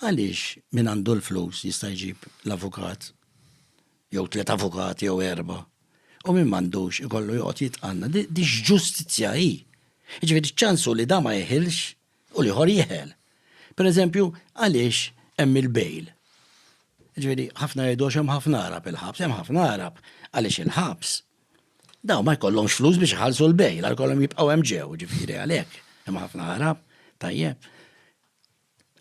Għaliex min għandu l-flus jista' jġib l-avukat jew tliet avukati jew erba' u min m'għandux ikollu joqgħod jitqanna. Di x'ġustizzja hi? Jiġifieri ċansu li da ma jeħilx u l-ieħor jeħel. Pereżempju, għaliex hemm il-bail? Jiġifieri ħafna jgħidu għax hemm ħafna Arab il-ħabs, hemm ħafna Arab għaliex il-ħabs daw ma jkollhomx flus biex iħallsu l-bail, għal kollhom jibqgħu hemm ġew, ġifieri għalhekk hemm ħafna Arab, tajjeb.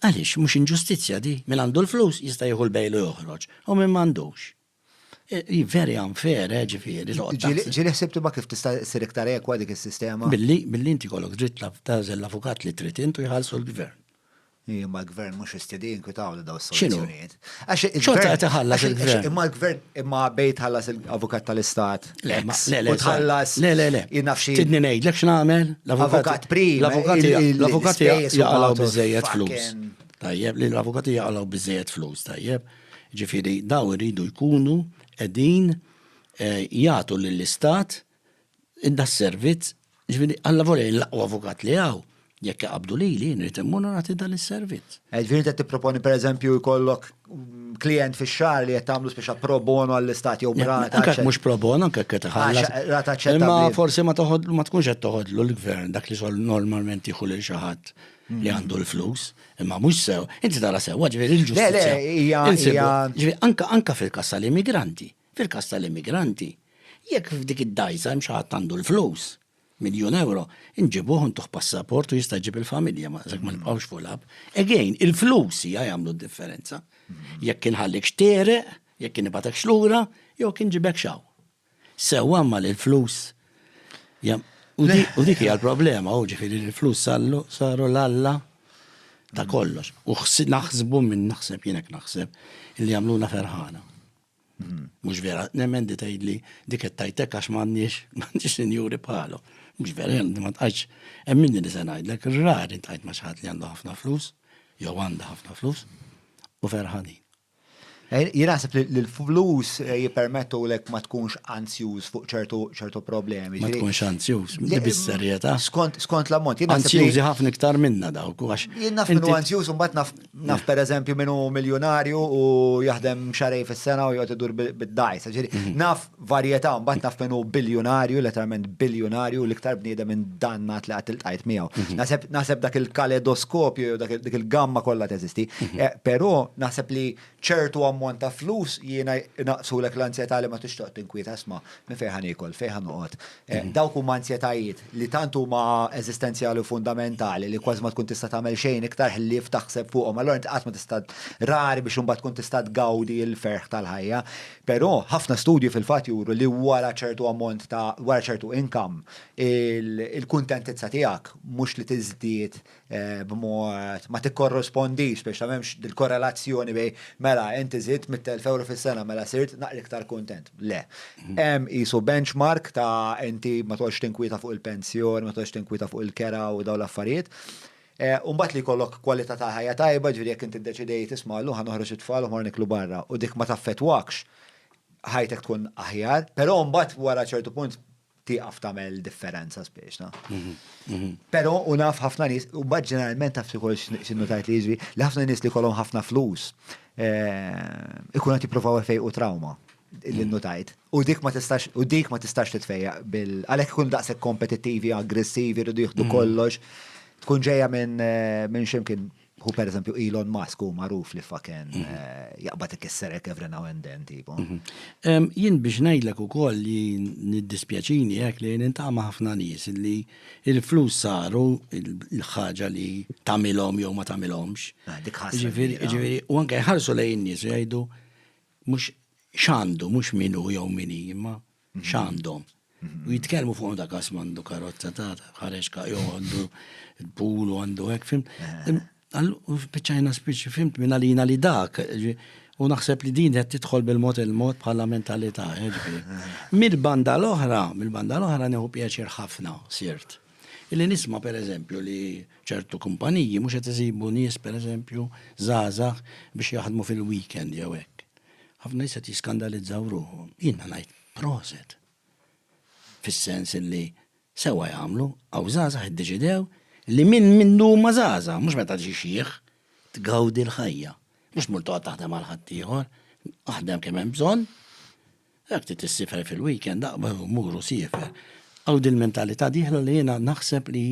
Għaliex, mhux inġustizzja di? Min għandu l-flus jista' jieħu l-bail u joħroġ, u min m'għandux. Hi very unfair, eh, ġifieri, li toqgħod taħseb. Ġieli ħsibt imma kif tista' ssir iktar ekwa dik is-sistema? Billi, billi inti jkollok dritt tagħżel l-avukat li trid int u jħallsu l-gvern. Hi, imma l-gvern mhux jistedi jinkwitawlu dawn is-soluzzjonijiet. Xorta qed iħallas il-gvern. Imma l-gvern imma bejt ħallas il-avukat tal-istat. Le, le, le. Tħallas. Le, le, le. Innafxi. Tidni ngħidlek x'nagħmel? L-avukat prim. L-avukat jaqalaw biżejjed flus. Tajjeb, li l-avukati jaqalaw biżejjed flus, tajjeb. Ġifieri daw iridu jkunu qegħdin eh, jagħtu lill-istat das-servizz, jiġifieri Alla volja jien l-aqwa avukat li hawn, jekk iqabbdu lili jien irid immur u nagħti dan is-servizz. Jiġifieri int qed tipproponi pereżempju jkollok klijent fix-xahar li qed tagħmlu speċa pro bono għall-istat jew b'rata. Anke mhux pro bono, anke qed iħallas. Rata ċetta. Imma forsi ma toħodlu ma tkunx qed toħodlu l-gvern dak li xogħol normalment jieħu lil xi ħadd li għandu l-flus, imma mhux sew. Inti tara sew, ġifieri l-ġustizzja. Le, le, hija. Anke fil-kassa l-immigranti. Fil-każ tal-immigranti, jekk f'dik id-dgħajsa hemm xi ħadd għandu l-flus, miljun ewro, inġibuh u ntuh passaport u jista' jġib il-familja ma sakemm ma nibqgħux fuq l-app. Again, il-flus hija jagħmlu d-differenza. Jekk inħallikx tegħreq, jekk inibgħatekx lura, jew jekk inġibekx hawn. Sewwa imma li l-flus u dik hija l-problema, u ġifieri li l-flus saru l-alla ta' kollox. U naħsbu minn naħseb jien hekk naħseb li jagħmluna ferħana. Mhux vera, nemmen di tgħidli dik qed tajtek għax m'għandniex m'għandniex sinjuri bħalu. Mhux vera, jien ma tqajtx hemm minni li se ngħidlek, rari tqajt ma' xi ħadd li għandu ħafna flus, jew għandha ħafna flus, u ferħanin. Eh, jien naħseb li l-flus eh, jippermettu lek ma tkunx anzjuż fuq ċertu ċertu problemi. Ma tkunx anzjuż, bis-serjetà. Skont l-ammont. Anzjużi ħafna iktar minna dawk. Jien naf minnu anzjuż u mbagħad naf Naf per eżempju minu miljonarju u jaħdem xarej fis-sena u jgħod idur bid-dajs. Mhm. Naf varjetà, mbagħad naf minu biljonarju, letteralment biljonarju, l-iktar bniedem minn dannat li għat il-tajt miegħu. Mhm. Naħseb dak il-kaledoskopju jew dak il-gamma kollha teżisti. Mhm. Eh, però naħseb li ċertu ammont ta' flus jiena naqsulek l-ansjetà li ma tixtoq tinkwiet asma' minn fejn ħanikol, fejn ħanoqgħod, Eh, dawk huma ansjetajiet li tant huma eżistenzjali u fundamentali li kważi ma tkun tista' tagħmel xejn iktar ħlief taħseb fuqhom. Allora inti qatt ma tista' rari biex imbagħad tkun tista' tgawdi l-ferħ tal-ħajja. Però ħafna studju fil-fatt juru li wara ċertu ammont ta' wara ċertu inkam il-kuntentizza tiegħek mhux li tiżdied b'mod ma tikkorrispondix biex m'hemmx dil-korrelazzjoni bejn mela inti żidt 100,000 euro fis-sena mela sirt naqra iktar kuntent. Le. Hemm qisu benchmark ta' inti ma toqgħodx tinkwieta fuq il-pensjoni, ma toqgħodx tinkwieta fuq il-kera u dawn l-affarijiet. U mbagħad li jkollok kwalità ta' ħajja tajba, ġifieri jekk inti ddeċidejt isma' llum ħa noħroġ it-tfal u mmorru niklu barra u dik ma taffettwakx, ħajtek tkun aħjar. Però mbagħad wara ċertu punt tieqaf tagħmel differenza spiex, na. Mhm, mhm. Però u naf ħafna nies, u bad ġeneralment taf xi x'innu tajt li jiġri, li ħafna nies li kolom ħafna flus eh, ikun qed jippruvaw u trawma li mhm. tajt. U dik ma tistax, u dik ma tistax titfejja bil għalhekk ikun daqshekk kompetittivi, aggressivi, rridu jieħdu kollox. Tkun ġejja minn eh, minn ximkien Hu per eżempju Elon Musk hu magħruf li faken mhm. eh, jaqbad ikisserek every now and then tipo. Mhm. Jien biex ngħidlek ukoll li niddispjaċini hekk li nintama ħafna nies li il-flus saru il-ħaġa li tagħmilhom jew ma tagħmilhomx. Ah, dik Ġifieri u anke jħarsu lejn nies jgħidu mhux x'għandu mhux minu jew mini imma x'għandhom. U jitkellmu fuq dak għas mandu karozza ta' ħareġ ka' jew għandu l-pool u għandu hekk fim. U spiċċajna spiċċi fimt minn għalina li dak. U naħseb li din qed tidħol bil-mod il-mod bħala mentalità. Mill-banda l-oħra, mill-banda l-oħra neħu pjaċir ħafna sirt. Illi nisma' pereżempju li ċertu kumpaniji mhux qed iżibu nies pereżempju żgħażagħ biex jaħdmu fil-weekend jew hekk. Ħafna nies qed jiskandalizzaw ruħhom. Jiena ngħid proset. Fis-sens li sewwa jagħmlu, hawn żgħażagħ iddeċidew li minn mindu huma żgħażagħ, mhux meta ġi xiħ, tgawdi l-ħajja. Mhux mur toqgħod taħdem għal ħaddieħor, aħdem kemm hemm bżonn. Dak ti tissifer fil-weekend aqbeħ muru siefer. Għaw dil-mentalità diħla li jiena naħseb li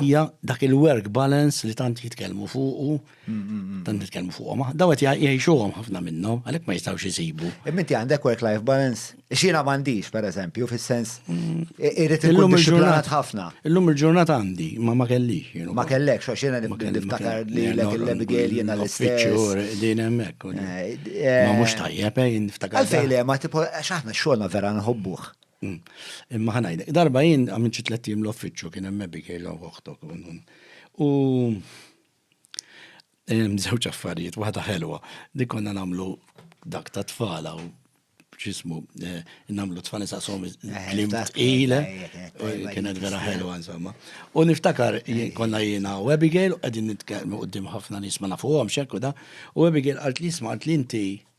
hija dak il-work balance li tant jitkellmu fuqu Dan nitkellmu fuqhom, daw qed jgħixuhom ħafna minnhom, għalhekk ma jistgħux isibu. Imminti għandek work-life balance, xina m'għandix pereżempju, fis-sens irid illum il-ġurnata ħafna. Illum il-ġurnata għandi, ma ma kellix. Ma kellek, xo xina niftakar li l l-Abigail jiena l-istess. Din hemmhekk. Ma mhux tajjeb, niftakar. Għalfejn le, ma tipo, xaħna xogħolna vera nħobbuh. Imma ħanajda, darba jien għamil ċitlettim l-offiċċju kien hemm Abigail u uħtok. U Żewġ affarijiet, waħda ħelwa, li konna nagħmlu dak ta' tfal hawn x'ismu, nagħmlu tfal nisaqshom klim tqil, kienet vera ħelwa insomma. U niftakar konna jiena u Abigail qegħdin nitkellmu quddiem ħafna nies ma nafuhomx hekk u da, u Abigail qalt li isma' qalt li inti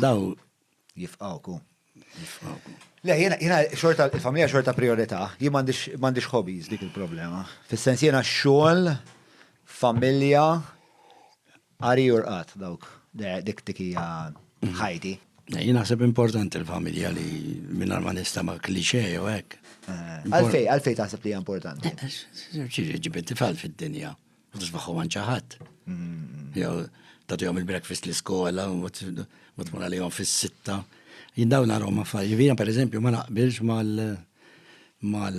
Daw jifqawku. Jifqawku. Le, jena, jena, xorta, il-familja xorta priorità, jien mandiġ hobbies dik il-problema. Fis-sens jena xogħol, familja, għari urqat dawk, dik dik hija ħajti. Jien naħseb importanti l-familja li minn ma nista ma klixe jew hekk. Eh, għalfej, għalfej taħseb li hija importanti. Eh, eh, ġiġi ġibet tifal fid-dinja. Tisbaħu għan ċaħat. Jew tatu jom il-breakfast l-iskola, u tmur għalihom fis-sitta. Jindaw narom affarijiet. Vina per eżempju ma naqbilx mal mal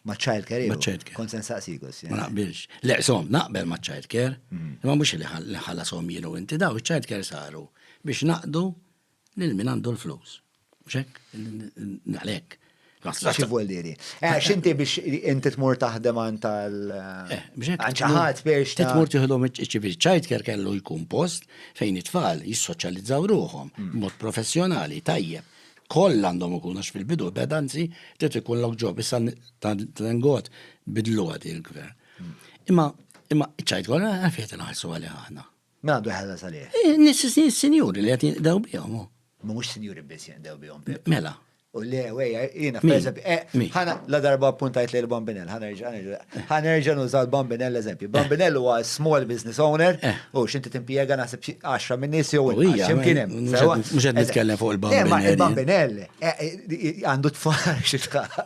ma child care. Ma child care. Konsen saqsikus. Ma naqbilx. Le, som, naqbel ma child care. Mm. Ma mux li ħalla som jienu inti daw, child care saru biex naqdu Lil min għandu l-flus. Xek? Għalek. Xi vuol diri? Eh, xinti biex inti tmur taħdem għan tal. Eh, biex ċaħat biex. Tmur tiħdom ċivil ċajtker kellu jkun post fejn it-tfal jissoċjalizzaw ruħom, mm. mod professjonali, tajjeb. Koll għandhom ikun għax fil-bidu bedanzi trid ikun lok ġob issa tangot bidlu għad il-gvern. Mm. Imma imma ċajtkor għafiet nħarsu għalih aħna. M'għandu jħallas għalih. Is-sinjuri li qed jinqdew bihom hu. Mhumiex sinjuri biss jinqdew bihom. Mela. U le, wejja, jiena f'eżempju. Eh, ħana la darba appuntajt lejn il-Bambinell, ħanerġa' nuża l-Bambinell eżempju. Bambinell huwa small business owner eh. u x'inti timpjega naħseb 10 minn nies jew x'imkien hemm. Mhux qed nitkellem fuq il-Bambinell. Eh, il-Bambinell eh, għandu tfal xi tfal.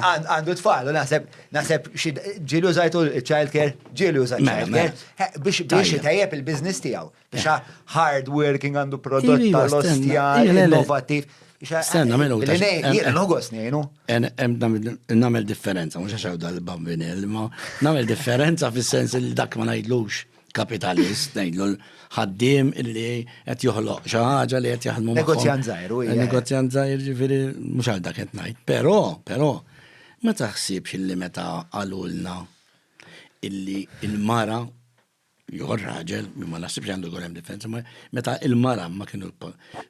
Għandu tfal u naħseb Naħseb ġieli użajtu childcare, ġieli użajtu mela, childcare mela. biex biex tajjeb il-biznis tiegħu. Biex eh. hard working għandu prodott tal-ostja innovativ. Stenna mela ta' jiena nħogos ngħinu. Nagħmel differenza, mhux għax dal-bambini, ma nagħmel differenza fis-sens li dak ma ngħidlux. kapitalist, ngħidlu l-ħaddim illi qed joħloq xi ħaġa li qed jaħdmu. Negozjan żgħir, u Negozjan żgħir ġifieri mhux għal dak qed ngħid. Però, però, ma taħsibx illi meta qalulna illi il-mara jew raġel, ma naħsibx għandu jkun hemm differenza, meta il-mara ma kienu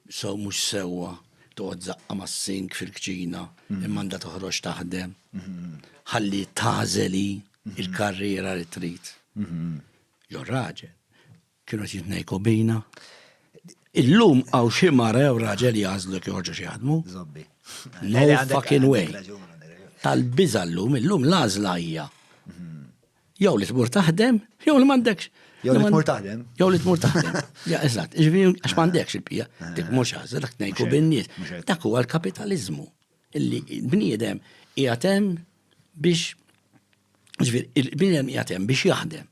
so mhux sewwa toqgħod zaqqa mas-sink fil-kċina, mhm. imma għandha toħroġ taħdem. Mhm. Ħalli tażeli. il-karriera li trid. Jo raġel, kienu qed jitnejku bina. Illum għaw xi mara jew raġel jażlu kif joħorġu xi jaħdmu. Zobbi. No fucking way. Tal-biża llum, illum l-għażla hija. Jew li tmur taħdem, jew li m'għandekx. Jew li tmur taħdem. Jew li tmur taħdem. Ja, eżatt, ġifieri għax m'għandekx il-pija, dik mhux għażel, dak ngħidu bin-nies. Dak huwa l-kapitaliżmu. Li l-bniedem qiegħed hemm biex, jiġifieri, il-bniedem qiegħed hemm biex jaħdem.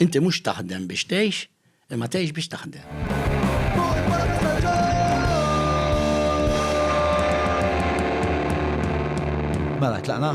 Inti mhux taħdem biex tgħix, imma tgħix biex taħdem. Mela, tlaqna?